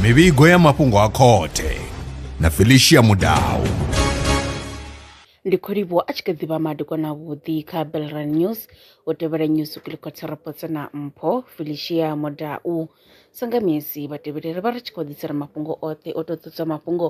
mivhigo ya mafhungo a khothe na felicia mudau ndi khou livhuwa a tshi kha ḓi vha madekwana avhuḓi kha belran news u tevhela news kilikotsa rapotsa na mpho felicia modau sanga misi vhatevhelere vha ri tshi khou ḓisela mafhungo oṱhe o to ṱutswa mafhungo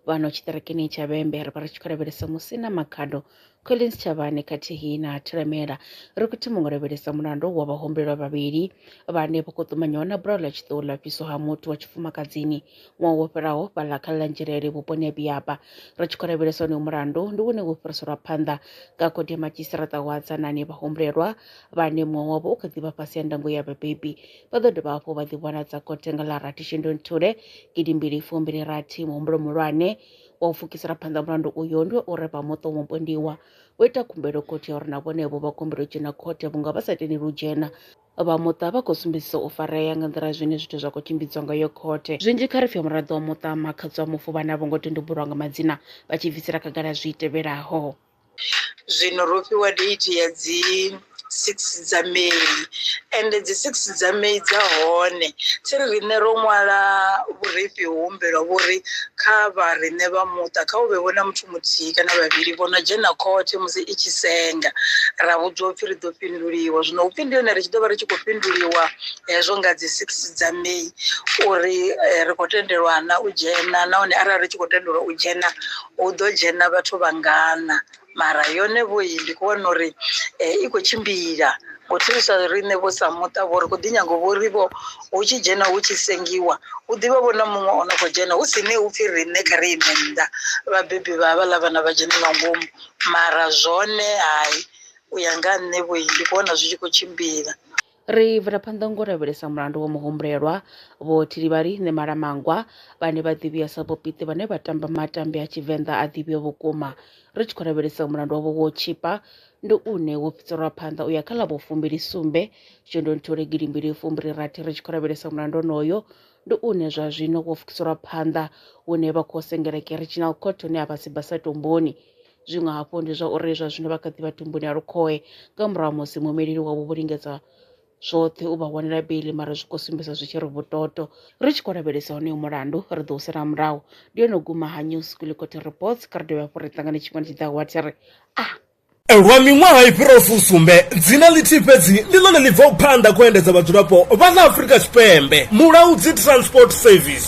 vhano tshiṱerekeni tsha vhembe ri vha ri tshi khou lavhelesa musi na makhado Collins Chavhane khathihi na Thilamela ri khou thoma ngo lavhelesa mulandu wa vhahumbelwa vhavhili vhane vho khou ṱumanyiwa na bulayo ḽa tshiṱuhu ḽa fhiswa ha muthu wa tshifumakadzini ṅwaha wo fhelaho fhaḽa kha ḽanzhelele vhuponi ha biaba ri tshi khou lavhelesa onoyo mulandu ndi wone wo fhiriselwa phanḓa nga khodi ya madzhisiṱiraṱa wa tsanani vhahumbulelwa vhane muṅwe wavho u kha ḓi vha fhasi ya ndango ya vhabebi vha ḓo dovha hafhu vha ḓivhonadza khothe nga ḽa rathi shundunthule gidimbili fumbili rathi muhumbulo muhulwane wa u pfukisela phanḓa mulandu uyo ndi wa uri vhamuṱa wa mupondiwa vho ita khumbelo khothe ya uri na vhonevho vha kumbelo dzhena khothe vhunga vha sa tendeli u dzhena vha muṱa vha khou sumbedzisa u farea nga nḓila zwine zwithu zwa khou tshimbidzwa ngayo khothe zwinzhi kha ri pfhe muraḓo wa muṱa makhadzi wa mufu vhane a vho ngo tendubulwa nga madzina vha tshi bvisela khagala zwi tevhelaho Zwino ro fhiwa date ya dzi six dza May and dzi six dza May dza hone thi ri riṋe ro ṅwala vhurifhi ho humbelwa vho ri kha vha riṋe vha muṱa kha hu vhe vho na muthu muthihi kana vhavhili vho no dzhena khothe musi i tshi senga ra vhudzwa upfhi ri ḓo fhinduliwa zwino upfhi ndi hone ri tshi ḓo vha ri tshi khou fhinduliwa hezwo nga dzi six dza May uri ri khou tendelwa na u dzhena nahone arali ri tshi khou tendelwa u dzhena hu ḓo dzhena vhathu vhangana mara yone vho yi ndi kho vhona uri eh, i khou tshimbila ngo thivhiswa riṋe vho sa muṱa vho ri khou ḓi nyango vho ri vho hu tshi dzhena hu tshi sengiwa hu ḓivha vho na muṅwe o no khou dzhena hu si ne hu pfhi riṋe kha ri ime nnḓa vhabebi vha havhaḽa vhana vha dzhene nga ngomu mara zwone hai u ya nga ha nṋe vho yi ndi kho vhona zwi tshi khou tshimbila Ri bvela phanḓa ngo lavhelesa mulandu wa muhumbulelwa Vho Thilivhali Ṋemalamangwa vhane vha ḓivhiwa sa Vhopiti vhane vha tamba matambi a Tshivenḓa a ḓivhiwa vhukuma. Ri tshi khou lavhelesa mulandu wavho wo tshipa ndi une wo fhiselwa phanḓa u ya kha ḽa vho fumbili sumbe shundunthule gidimbili fumbili rathi ri tshi khou lavhelesa mulandu onoyo ndi une zwa zwino wo fukiselwa phanḓa hune vha khou sengela Keriginal Court hune a vha si basa tomboni. Zwiṅwe hafhu ndi zwa uri zwa zwino vha kha ḓi vha tumbuni ya lukhohe nga murahu ha musi muimeleli wavho vho lingedza zwoṱhe u vha wanela beili mara zwi khou sumbedza zwi tshi ri vhutoto ri tshi khou lavhelesa honoyo mulandu ri ḓo u sela murahu ndi yone u guma ha news kulikoti reports kha ri dovhe hafhu ri ṱangane tshifhinga tshi ḓaho wa thi ri a ah! Lwa miṅwaha i fhiraho fusumbe, dzina ḽithihi fhedzi ndi ḽone ḽi bvaho phanḓa khou endedza vhadzulapo vha ḽa Afrika Tshipembe, Mulaudzi Transport Service.